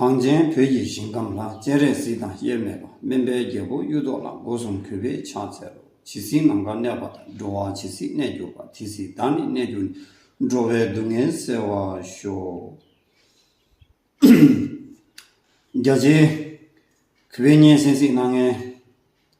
གངས་ཅན་བོད་ཀྱི་ཞིང་ཁམས་ལྷ་སྤྱན་རས་གཟིགས་དང་དབྱེར་མེད་པ་སྨན་པའི་རྒྱལ་པོ་གཡུ་ཐོག་ལ་སྒོ་གསུམ་གུས་པས་ཕྱག་འཚལ་ལོ། ཇི་སྲིད་ནམ་མཁའ་གནས་པ་དང་འགྲོ་བ་ཇི་སྲིད་གནས་གྱུར་པ་དེ་སྲིད་བདག་ནི་གནས་གྱུར་ནས་འགྲོ་བའི་སྡུག་བསྔལ་བསལ་བར་ཤོག། རྒྱ་ཆེའི་གུས་པས་སྙན་གསན་གཟིགས་གནང་ངེས།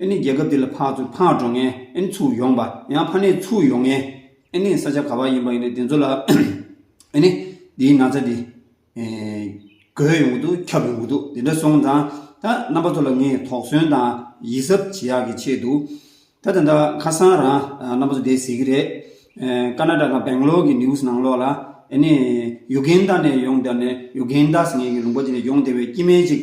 ཨེ་ནི་རྒྱལ་ཁབ་འདི་ལ་ཕག་ཚུགས་ཕག་འགྲོ་ངན་ཨེ་ནི་ཚུགས་ཡོང་པ་ཡང་ཕ་ནས་ཚུགས་ཡོང་ངན་ཨེ་ནི་ས་ཆ་ག་བ་ཡིན་པ་ཡིན་ནས་དེ་ཚོ་ལ་ཨེ་ནི་འདིའི་ན་ཚ་འདི་རྒོད་ཡོང་གི་འདུག་ཁྱབ་ཡོང་གི་འདུག་དེ་འདྲ་སོང་ཙང་ད་རྣམ་པ་ཚོ་ལ་ངས་དོགས་ཟོན་དང་ཡིད་གཟབ་བྱེད་ཡག་གི་ཆེད་དུ་ད་དེ་འདྲ་ཁ་སང་རང་རྣམ་པ་ཚོ་བསྡད་ཟེར་གི་རེད་ཀ་ན་ར་ག་བེང་ལོར་གི news ནང་ལོགས་ལ་ཨེ་ནི Uganda ནས་ཡོང་བསྡད་ནས Ugandas ངེད་ཀྱི་རུམ་པ་འདི་ནས་ཡོང་བསྡད་པའི་སྐྱི་སྨན་ཅིག།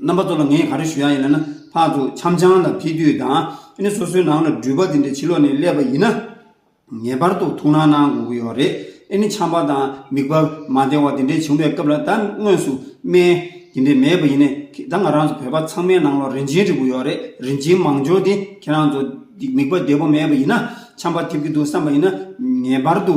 རྣམ་པ་ཚོ་ལ་ངས་ག་རེ་ཞུ་ཡག་ཡིན་ལབ་ན་ཕར་ཚུར་འཆམ་ཆང་དང་ཕེ་དུས་དང་ཨནི་སོ་སོའི་ནང་ལ་འགྲུལ་པ་དེ་འདྲས་ཕྱི་ལོག་ནས་སླེབས་པ་ཡིན་ན། ངེས་པར་དུ་ཐུགས་སྣང་གནང་དགོས་ཀྱི་ཡོད་རེད་ཨནི་འཆམ་པ་དང་མིག་པ་མ་བདེ་བ་དེ་འདྲས་བྱུང་བའི་སྐབས་ལ་ད་དངོས་སུ་སྨན་དེ་འདྲས་མེད་པ་ཡིན་ནས་ད་ང་རང་ཚོ་བོད་པ་ཚང་མའི་ནང་ལ་རིན་ཆེན་རིལ་བོ་ཡོད་རེད་རིན་ཆེན་མང་འབྱོར་དེ་ཁྱེད་རང་ཚོ་མིག་པ་བདེ་བོ་མེད་པ་ཡིན་ན་འཆམ་པ་ཐེབས་ཀྱི་འདུག་བསམ་པ་ཡིན་ན་ངེས་པར་དུ་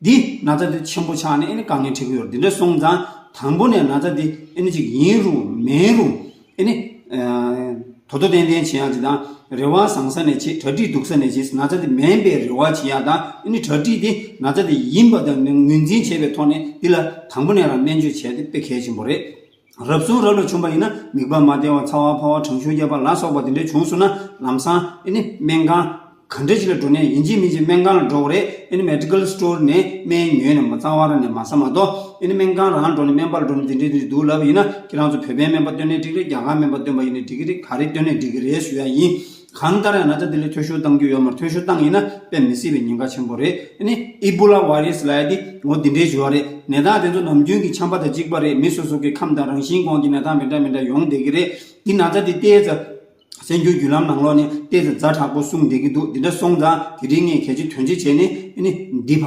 འདི་ན་ཚ་དེ་ཆེན་པོ་ཆགས་ནས་ཨེ་ནི་དཀའ་ངལ་འཕྲད་ཀྱི་ཡོད་རེད་དེ་འདྲ་སོང་ཙང་དང་པོ་ནས་ན་ཚ་དེ་ཨེ་ནི་ཅིག་ཡིན་རུང་མིན་རུང་ཨེ་ནི། དོ་དོ་ཏན་ཏན་བྱེད་ཡག་ཅིག་དང་རེ་བ་བཟང་ས་ནས་བྱེད་གྲ་སྒྲིག་སྡུག་ས་ནས་བྱེད་ན་ཚ་དེ་མེད་པའི་རེ་བ་བྱེད་ཡག་དང་ཨེ་ནི་གྲ་སྒྲིག་དེ་ན་ཚ་དེ་ཡིན་པ་དང་ངོས་འཛིན་བྱས་པའི་ཐོག་ནས་འདི་ལ་དང་པོ་ནས་རང་སྨན་བཅོས་བྱས་ཏེ་དཔེ་གལ་ཆེན་པོ་རེད། རབ་བྱུང་རབ་ལ་བྱུང་བ་ཡིན་ན་མིག་བར་མ་དལ་བ་ཚ་བ་ཕོ་བ་གྲང་ཤུར་རྒྱབ་པ་ལ་སོགས་པ་དེ་འདྲའི་བྱུང་སོང་ན་ལམ་སང་ཨེ་ནི་སྨན་ཁང། ག་འདྲ་ཞིག་ལ་འགྲོ་ནས་ཡིན་གཅིག་མིན་གཅིག་སྨན་ཁང་ལ་འགྲོ་བ་རེད་ཨེ་ནི Medical Store ནས་སྨན་ཉོས་ནས་མ་གཙང་བར་ནས་མ་ཟ་མ་དོ་ཨེ་ནི་སྨན་ཁང་རང་འགྲོ་ནས་སྨན་པ་ལ་འགྲོ་ནས་དེ་འདྲའི་དེ་འདྲའི་འདུག་ལབ་ཡིན་ན་ཁྱེད་རང་ཚོ་བོད་པའི་སྨན་པ་བཏོན་ནས་འགྲིག་རེད་རྒྱ་གར་སྨན་པ་བཏོན་པ་ཡིན་ནས་འགྲིག་གི་རེད་ག་རེ་བཏོན་ནས་འགྲིག་གི་རེད་ཞུ་ཡ་ཡིན། གང་ལྟར་ཡང་ན་ཅཱ་དེ་ལས་ཐོལ་བཤུལ་བཏང་རྒྱུ་ཡོད་མར་ཐོལ་བཤུལ་བཏང་ཡིན་ན་དཔེ་མི་སྲིད་པའི་ཉེན་ཁ་ཆེན་པོ་རེད་དེ་ནི་ཨི་པོ་ལ་བྷ་རི་སི་ལའེ་དེ་ལོ་འདི་འདྲའི་བཞུར་བ་རེད་ནད་རྟགས་དེ་ཚོ་ནམ་རྒྱུན་གྱི་འཁྱམ་པ་དང་གཅིག་པ་རེད་མི་སོ་སོ་གི་ཁམས་དང་རང་བཞིན་གོང་གི་ནད་རྟགས་མི་འདྲ་མི་འདྲ་ཡོང་བསྡད་ཀྱི་རེད་དེ་ན་ཅཱ་དེ་ལྟའི་རྩ་སེན་རྒྱུ་བརྒྱུད་ལམ་ནང་ལོགས་ནས་ལྟས་དེ་རྫ་དྲག་པོ་གསུངས་བསྡད་ཀྱི་འདུག་འདི་འདྲ་སོང་ཙང་དེ་རིང་ངས་གལ་ཆེ་དོན་ཆེ་བྱས་ནི་འདི་བག་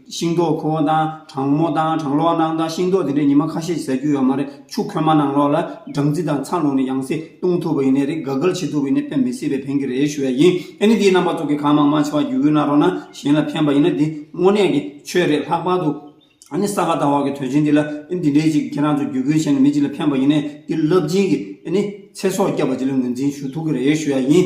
ཤིང་ཏོག་ཁུ་བ་དང་གྲང་མོ་དང་གྲང་ལོག་གནང་དང་ཤིང་ཏོག་དེ་འདྲས་ཉི་མ་ཁ་ཤས་ཟ་རྒྱུ་ཡོད་མ་རེད་ཆུ་ཁོལ་མ་གནང་ལོག་ལ་སྦྲང་རྩི་དང་ཚ་ལུག་ནས་ཡང་སྲིད་བཏུང་ཐུབ་པ་ཡིན་ནས་རེད་དགའ་དགའ་བྱེད་ཐུབ་པ་ཡིན་ནས་ཕན་མི་སྲིད་པས་ཕན་གྱི་རེད་ཞུ་ཡ་ཡིན་ཨེ་ནི་དེའི་རྣམ་པ་ཚོ་གི་གང་མང་མང་ཆེ་བ་རྒྱུ་འུར་ན་རོ་ན་གཞན་ལ་ཕན་པ་ཡིན་ན་དེ་དངོས་གནས་ཀྱི་ཆོས་རེད་ལྷག་པར་དུ་ཨ་ནི་ས་ག་ཟླ་བ་གི་དོན་ཆེན་འདི་ལ་ཨེ་ནི་དེ་འདྲས་ཅིག་ཁྱེད་རང་ཚོ་རྒྱུ་འཁྱོལ་བྱས་ནས་མི་གཅིག་ལ་ཕན་པ་ཡིན་ནས་དེ་རླབས་ཆེན་གྱི་ཨེ་ནི་ཚེ་སྲོག་བསྐྱབས་པ་གཅིག་ལ་ངོས་འཛིན་ཞུ་ཐུབ་ཀྱི་རེད་ཞུ་ཡ་ཡིན།